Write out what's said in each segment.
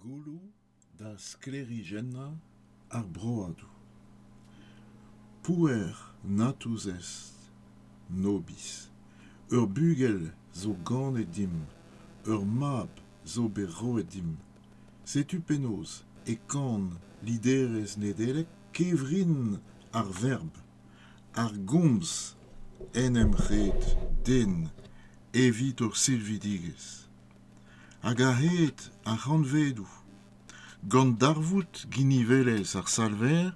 Gouloù da sklêrijennañ ar broadoù. Pouer natuzez Nobis. Ur bugel zo ganet dimp. Ur mab zo bet roet dimp. Setu penaos e kan liderezh Nedeleg kevrin ar verb. ar gomz en em red den evit hor silvidigezh hag a-hed ar c'hantvedoù gant darvoud ginivelezh ar salver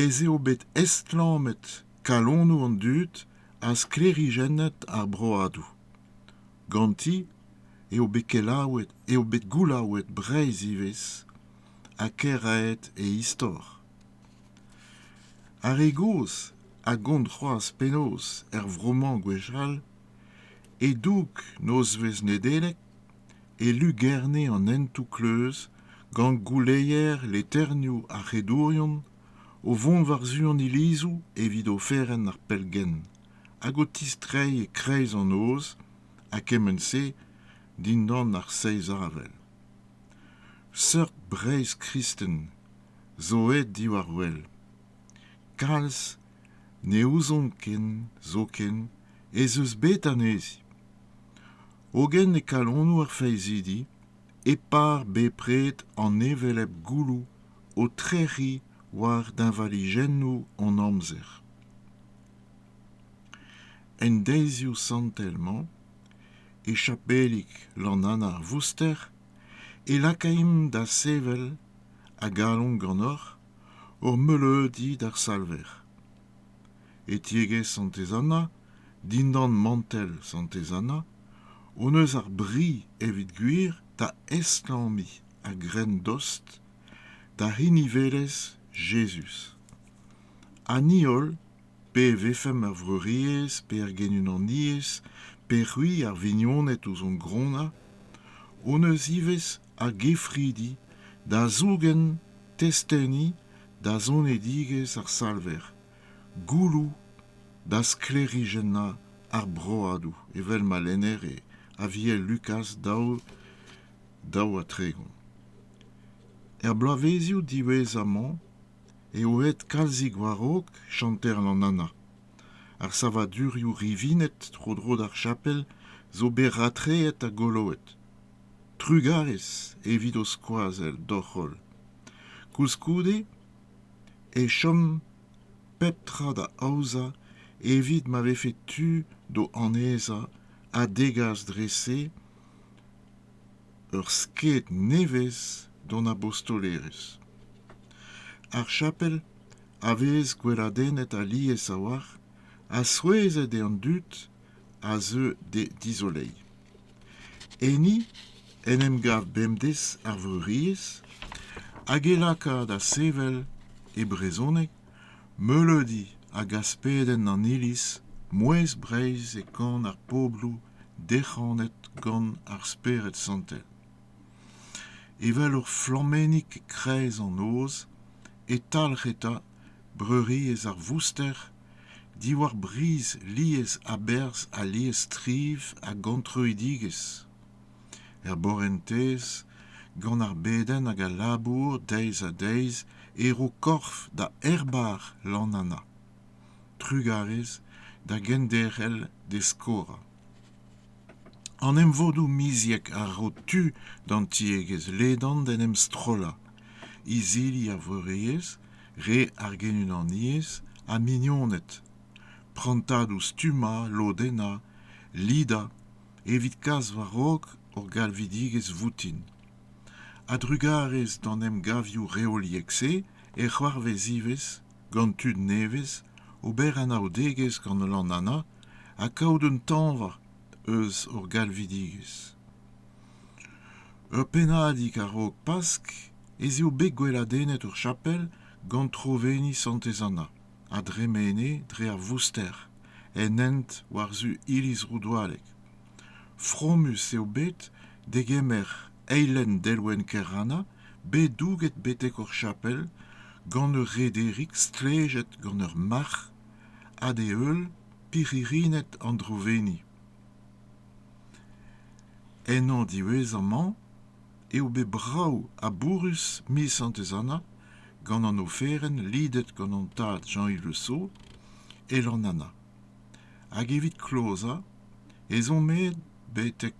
ez eo bet estlammet kalonoù an dud ha sklêrijennet ar broadoù ganti eo bet kelaouet eo bet goulaouet Breizh ivez ha kêraet e istor Ar re gozh a gont c'hoazh penaos er vro-mañ gwechall, e-doug nozvezh Nedeleg, e lugerne an hentoù kleuz gant gouleier leternioù ar c'hedourion o vont war-zu an ilizoù evit oferenn ar pellgent hag o tistreiñ e-kreiz an noz ha kement-se dindan ar seizh avel. Seurt Breizh kristen zo aet diwar-wel. Kalz ne ouzon ken zoken ez eus bet anezhi. Hogen e kalonoù ar faezhidi e par bepred an hevelep gouloù o trec'hiñ war deñvalijennoù hon amzer. En deizioù santel-mañ, e chapelig Lannann ar Vouster, e lakaimp da sevel a galon ganeoc'h hor meuleudi d'ar Salver. E tiegezh Santez Anna, dindan mantell Santez Anna, hon eus ar bri, evit gwir, da estlammiñ a-grenn dost da hini welez Jezuz. Ha ni holl, pe e vefemp er Vreuriezh, pe er Genunaniezh, pe c'hwi ar vignoned ouzh hon gronnañ, hon eus ivez ar gefridi da zougen testeni da zonedigezh ar Salver, gouloù da sklêrijennañ ar broadoù evel ma lennere Aviel Lukaz daou daou ha tregont. Er bloavezioù diwezhañ-mañ eo aet kalzig war-raok chanter Lanana. Ar savadurioù rivinet tro-dro d'ar chapel zo bet ratreet ha goloet. Trugarez evit ho skoazell d'hoc'h holl. Koulskoude e chom pep tra da aozañ evit ma vefe tu d'ho annezañ ha degas dre-se ur sked nevez d'hon abostolerezh. Ar chapel a vez gweladennet alies a-walc'h ha souezhet eo an dud a zeu d'he dizoleiñ. Enni en em gav bemdez ar Vreuriezh hag e laka da sevel, e brezhoneg, meuleudi hag aspedenn an Iliz mouezh Breizh e kan ar pobloù derc'hanet gant ar Spered Santel. Evel ur flammennig e-kreiz an noz e talc'h eta Breuriezh ar Vouster diwar briz lies a-berzh ha liesstriv a gantreudigezh er borentez gant ar bedenn hag al labour deiz-ha-deiz e ro korf da aerbar lannana trugarez da genderc'hel d'e skorañ an emvodoù miziek a ro tu d'an tiegezh ledan d'en em strollañ izili ar vreuriezh re ar genunaniezh ha mignoned prantadoù stummañ lodennañ lidañ evit kas war-raok hor galvidigezh voutin a-drugarez d'an emgavioù reoliek-se e c'hoarvez ivez gant tud nevez ober anaoudegezh gant Lanana ha kaout un tañva eus hor galvidigezh. Ur pennadig a-raok Pask ez eo bet gweladennet hor chapel gant troveni Santez Anna a dremene dre ar Vouster en hent war-zu iliz Roudoualleg. Fromus eo bet degemer eilenn delwenn Kerranna bet douget betek ur chapel gant ur rederig stlejet gant ur marc'h ha d'e heul pirc'hirined an Droveni. Ennañ diwezhañ-mañ eo bet brav ha bourrus miz Santez Anna gant an oferenn lidet gant an tad Jean-Yves Le Saux, Elan Anna. Hag evit klozañ ez omp aet betek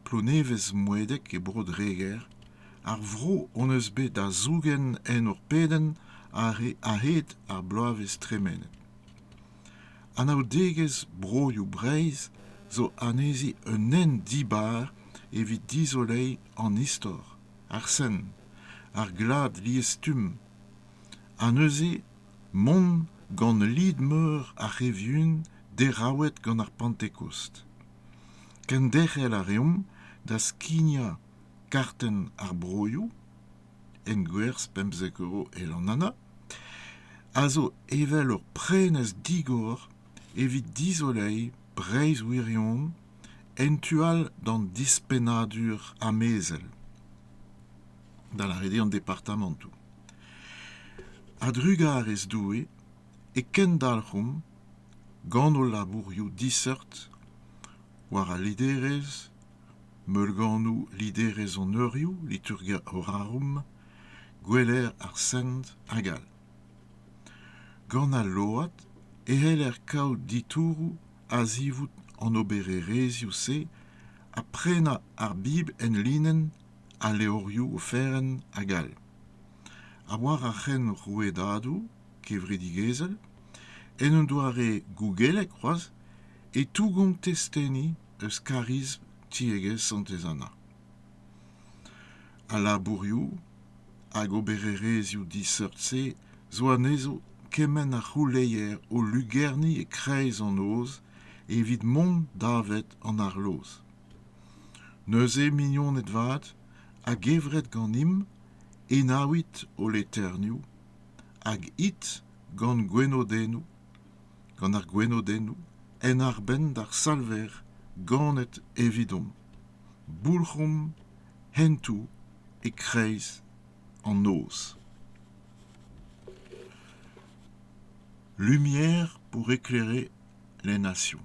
Plonevez-Moedeg e Bro-Dreger, ar vro hon eus bet da zougen en hor pedenn a-hed ar bloavezh tremenet. Anaoudegezh Broioù Breizh zo anezhi un hent dibar evit dizoleiñ an istor, ar sen, ar glad liesstumm ha neuze mont gant lid-meur ar c'hevyun deraouet gant ar pantekost kenderc'hel a reomp da skignañ kartenn ar broioù engwerzh pemzek euro el an ana a zo evel ur prenestr digor evit dizoleiñ breizh wirion en tu all d'an dispennadur amezel da lâret eo an departamantoù. A-drugarez Doue e kendalc'homp gant hol labourioù diseurt war al liderezh, meulganoù liderezh hon eurioù, liturgia orarum, gweler ar Sent hag all. Gant al load e c'heller kaout ditouroù a-zivout an obererezhioù-se ha prenañ ar Bibl en linenn al levrioù oferenn hag all. Ha war ar c'henrouedadoù kevredigezhel, en un doare gougelek c'hoazh, e tougomp testeni eus kariz tiegezh Santez Anna. Al labourioù hag obererezhioù diseurt-se zo anezho kement a c'houleier o lugerni e-kreiz an noz evit mont davet an arloz. Neuze, mignoned vat, a-gevret ganimp, enaouit ho leternioù, hag it gant gwenodennoù, gant ar gwenodennoù, en arbenn d'ar Salver ganet evidomp. Boulc'homp hentoù e-kreiz an noz. Lumière pour éclairer les nations.